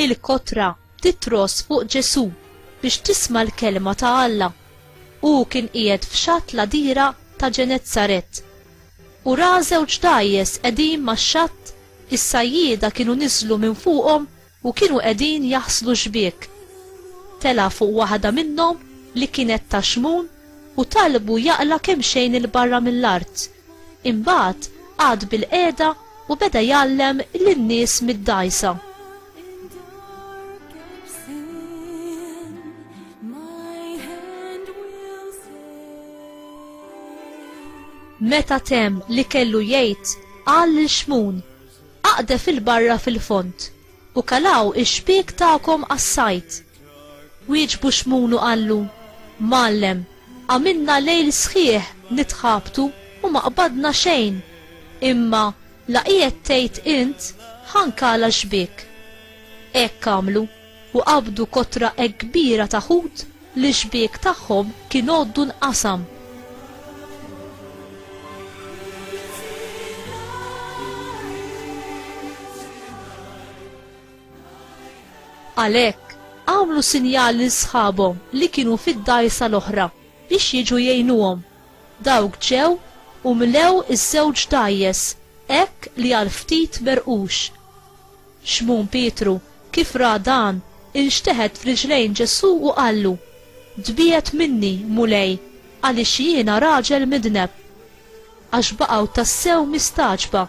il-kotra titros fuq Ġesu biex tisma' l-kelma ta' Alla. U kien qiegħed f'xatt la dira ta' Ġenezzaret. U ra żewġ dajjes qegħdin max-xatt, is-sajjieda kienu niżlu minn fuqhom U kienu qegħdin jaħslu xbiek. Tela' fuq waħda minnhom li kienet ta' xmun u talbu jaqla' kemxejn 'il barra mill-art. Imbagħad qagħad bilqiegħda u beda jgħallem lin-nies mid-dgħajsa. Meta temm li kellu jgħid, qal lil Xmun, Aqde fil-barra fil-fond, u kalgħu x-xbiek tagħkom għas-sajd. Wieġbu Xmun u qallu, Mgħallem, għamilna lejl sħiħ nitħabtu u ma qbadna xejn, imma, la qiegħed tgħid int, Ħa nkala x-xbiek. Hekk għamlu. u qabdu kotra hekk kbira ta' ħut li x-xbiek tagħhom kien għoddu nqasam. Għalhekk, għamlu sinjal lil sħabhom li kienu fid-dgħajsa l-oħra biex jiġu jgħinuhom. Dawk ġew u mlew iż-żewġ dgħajjes hekk li għal ftit merqux. Xmun Pietru, kif ra dan, inxteħet f'riġlejn Ġesù u qallu, Tbiegħed minni, Mulej, għaliex jiena raġel midneb. Għax baqgħu tassew mistagħġba,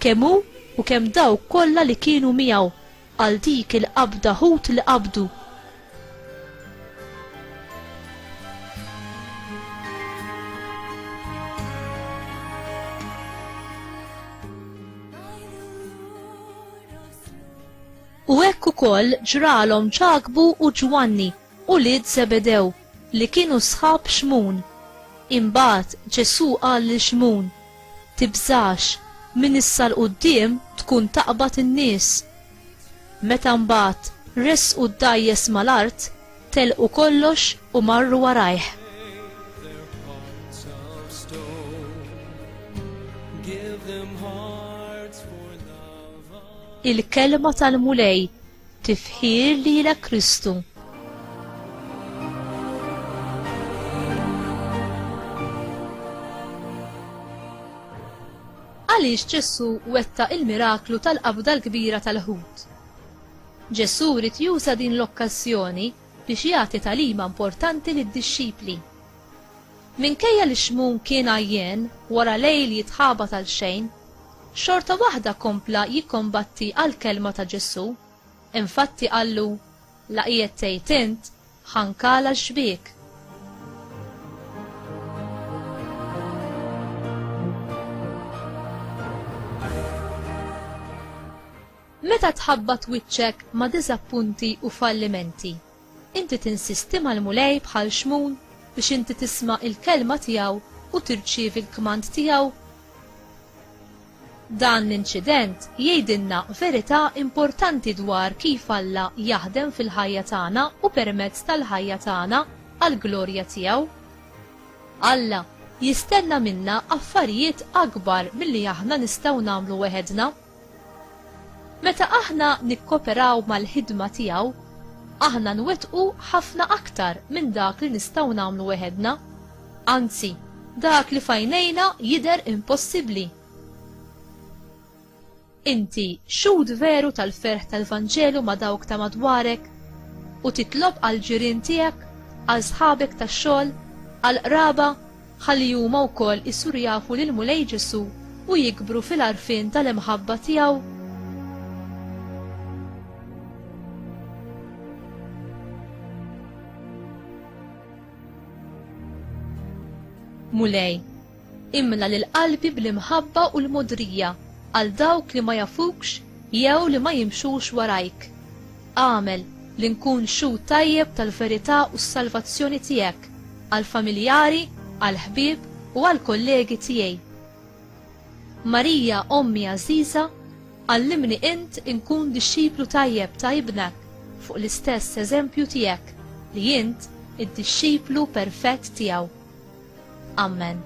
kemm hu u kemm dawk kollha li kienu miegħu, għal dik il-qabda ħut li qabdu. U hekk ukoll ġralhom Ġakbu u Ġwanni, ulied Zebedew, li kienu sħab Xmun. Imbagħad Ġesù qal lil Xmun, Tibżax, minn issa 'l quddiem tkun taqbad in-nies. Meta mbagħad ressqu d-dgħajjes mal-art, telqu kollox u marru warajh. Il-Kelma tal-Mulej tifħir lilek Kristu. Għaliex Ġesù wettaq il-miraklu tal-qabda l-kbira tal-ħut? Ġesù ried juża din l-okkażjoni biex jagħti tagħlima importanti lid-dixxipli. Minkejja li Xmun kien għajjen wara lejl jitħabat għal xejn, xorta waħda kompla jikkombatti għall-kelma ta' Ġesù, infatti qallu, La qiegħed tgħid int, Ħankala xbik. Meta tħabbat wiċċek ma' diżappunti u fallimenti, inti tinsisti mal-mulej bħal xmun biex inti tisma' il-kelma tiegħu u tirċievi l-kmand tiegħu? Dan l-inċident jgħidilna verità importanti dwar kif Alla jaħdem fil-ħajja tagħna u permezz tal-ħajja tagħna għall-glorja tiegħu. Alla jistenna minna affarijiet akbar milli aħna nistgħu nagħmlu weħedna. Meta aħna nikkoperaw mal-ħidma tiegħu, aħna nwettqu ħafna aktar minn dak li nistgħu nagħmlu weħedna. Anzi, dak li f'għajnejna jidher impossibbli. Inti xhud veru tal-ferħ tal-Vanġelu ma' dawk ta' madwarek u titlob għall-ġirien tiegħek, għal sħabek tax-xogħol, għall-qraba ħalli huma wkoll isiru jafu lill-Mulej Ġesù u jikbru fil-għarfien tal-imħabba tiegħu. Mulej, imla lil qalbi bl-imħabba u l-modrija għal dawk li ma jafukx jew li ma jimxux warajk. Għamel li nkun xhud tajjeb tal-verità u s-salvazzjoni tiegħek għall-familjari, għall-ħbieb u għall-kollegi tiegħi. Marija ommi għażiża, għallimni int inkun dixxiplu tajjeb ta' Ibnek fuq l-istess eżempju tiegħek li int id-dixxiplu perfett tiegħu. Ammen.